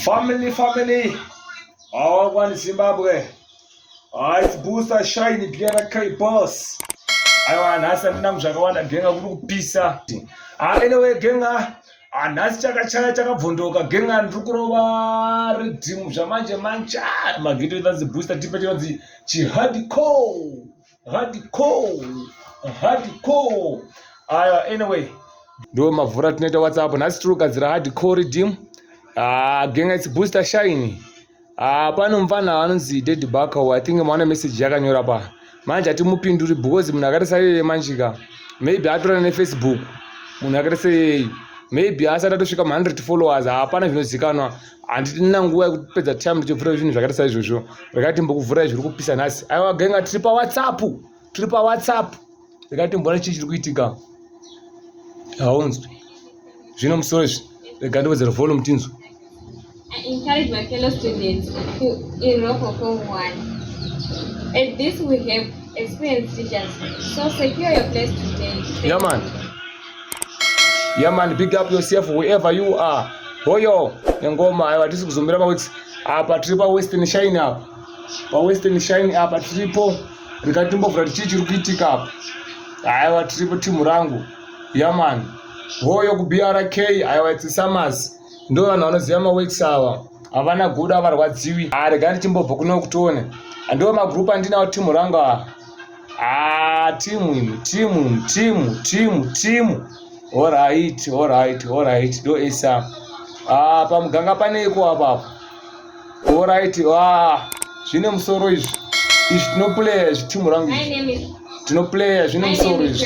Family, family. Our one Zimbabwe. Ah, it's booster shiny Biera K boss. I want nhasi andina muzvakawanda genga kuri kupisa. Ah, anyway genga ah, nhasi chakachaya chakabvondoka genga ndiri kurova ridhimu zvamanje manje ah, magito inonzi booster tipe chinonzi chihardcore. hardcore hardcore aya uh, anyway ndo mavhura tinoita whatsapp nhasi tiri kugadzira hardcore dim uh, ah, genga its booster shine uh, ah, pano mfana anonzi ded backow i think maona message yakanyora pa manje hatimupinduri because munhu akaita saiyeye manjika maybe atora nefacebook munhu akaita seyeyi maybe asati atosvika mu 100 followers hapana zvinozikanwa handitina nguva yekupedza time ndichivhura zvinhu zvakaita saizvozvo rekati mbokuvhurai zviri kupisa nhasi aiwa genga tiri pawhatsapp tiri pawhatsapp rekati mboona chii chiri kuitika haunzwi zvino musoro izvi rega ndiwedzera volume tinzwe At this we have experienced teachers. So secure your place today. Yeah, man. Yeah man, big up yourself wherever you are. Hoyo nengoma ayo atisi kuzombira maweeks apa tiri pa Western Shine apa. Pa Western Shine apa tiripo rikatimbovhura tichii chiri kuitika apa. Aiwa tiripo timu rangu. Yeah man. Hoyo ku BRK aiwa it's Summers. Ndo vanhu vanoziva maweeks awa. Havana guda avarwadziwi. Arega ah, ndichimbobva kuno kutone. Ndo magroup andinawo timu rangu apa. Ah, timu imi, timu, timu, timu, timu. All right, all right, all right. Do esa. Ah, pamuganga pane iko apapo. All right. Ah, zvine musoro izvi. Izvi tinoplaya izvi timu rangu. Tinoplaya zvine musoro izvi.